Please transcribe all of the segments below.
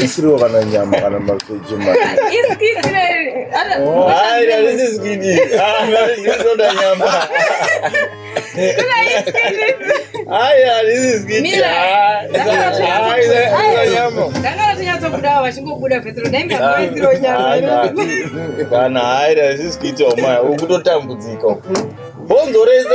Misiriwo kana nyama kana mavheji maiaisiskidiaaiisoda nyama aya this is good kana aida this is kuita umaya ukutotambudzika bhonzo rese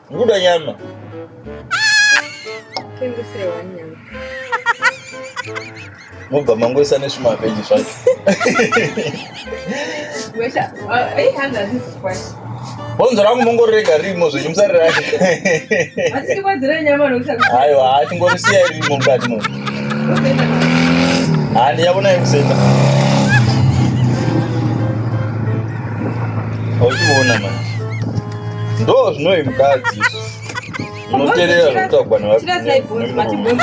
Muda nyama. Kendisire wanyama. Mubva mangoisa nezvima veji zvacho. Wesha, eh handa this question. Bonzo rangu mongorega rimo zvenyu musarira. Asi tikwadzira nyama nokushaka. Aiwa, hati ngorisiya rimo mukati muno. Handi yabona yekusenda. Ochiona manje. Ndo zvinoyi mukadzi. Unoterera zvekutagwa nevarume.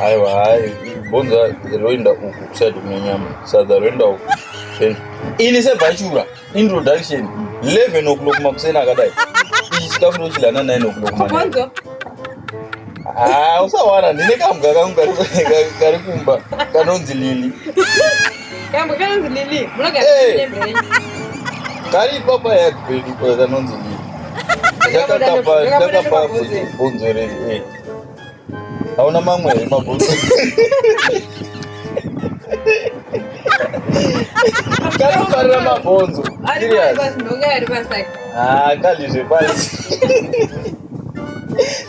Aiwa hai, bonza roenda uku kuside kunenyama. Sadza roenda uku. Ini sebhachura introduction 11 o'clock makuseni akadai. Ichi chikafu ndochidya na 9 o'clock. Bonzo. Ah, usawana ndine kamga kangu kari kumba kanonzi Lili. Kari ipapa yakupedi kwakanonzi Lili. Ndakakapa ndakapa bvunzo rei. Hauna mamwe here mabvunzo? Kanofarira mabvunzo. Serious. Ah, kalizve pasi.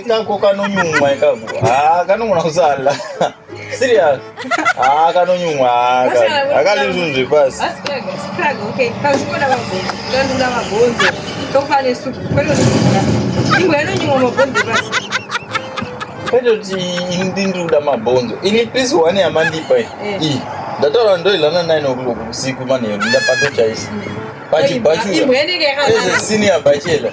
ikako kanonyumwa ikako ah, kanogona kusala serious ah, kanonyumwa akalizvunhu zvepasi kwete kuti ini ndiri kuda mabhonzo ini pisi one yamandipa eh. iyi ndataura ndoilana nine o'clock usiku manheru ndapatochaisa pachibhachura eze senior bachela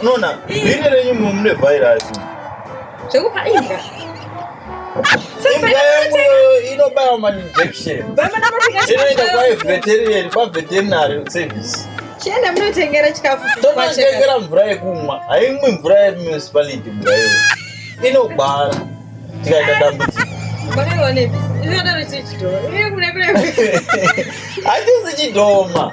unoona bhiri renyu mumwe mune vhairasi zvekupa imbwa inobaya mainjection inoenda kwaveterian kwaveterinary service chienda munotengera chikafu tonatengera mvura yekumwa haimwi mvura yemunicipality mvura iyo inogwara tikaita dambudziko hatisi chidhoma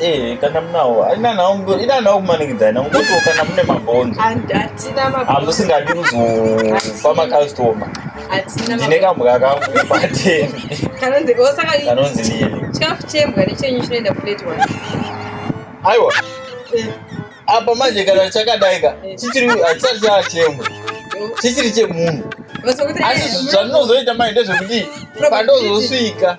Eh, kana munawo aina nawo mudori ina nawo kumanikidzai na ngoto kana mune mabhonzo atina mabhonzo amusingadi kuzofa makastoma atina ndine kambwa kangu pateni kanonzi osaka oh, kanonzi nini chikafu chembwa nechenyu chinoenda plate one aiwa eh, apa manje kana chakadai ka eh. chichiri hatisati chachembwa chichiri chemunhu asi zvandinozoita mai ndezvekuti pandozosvika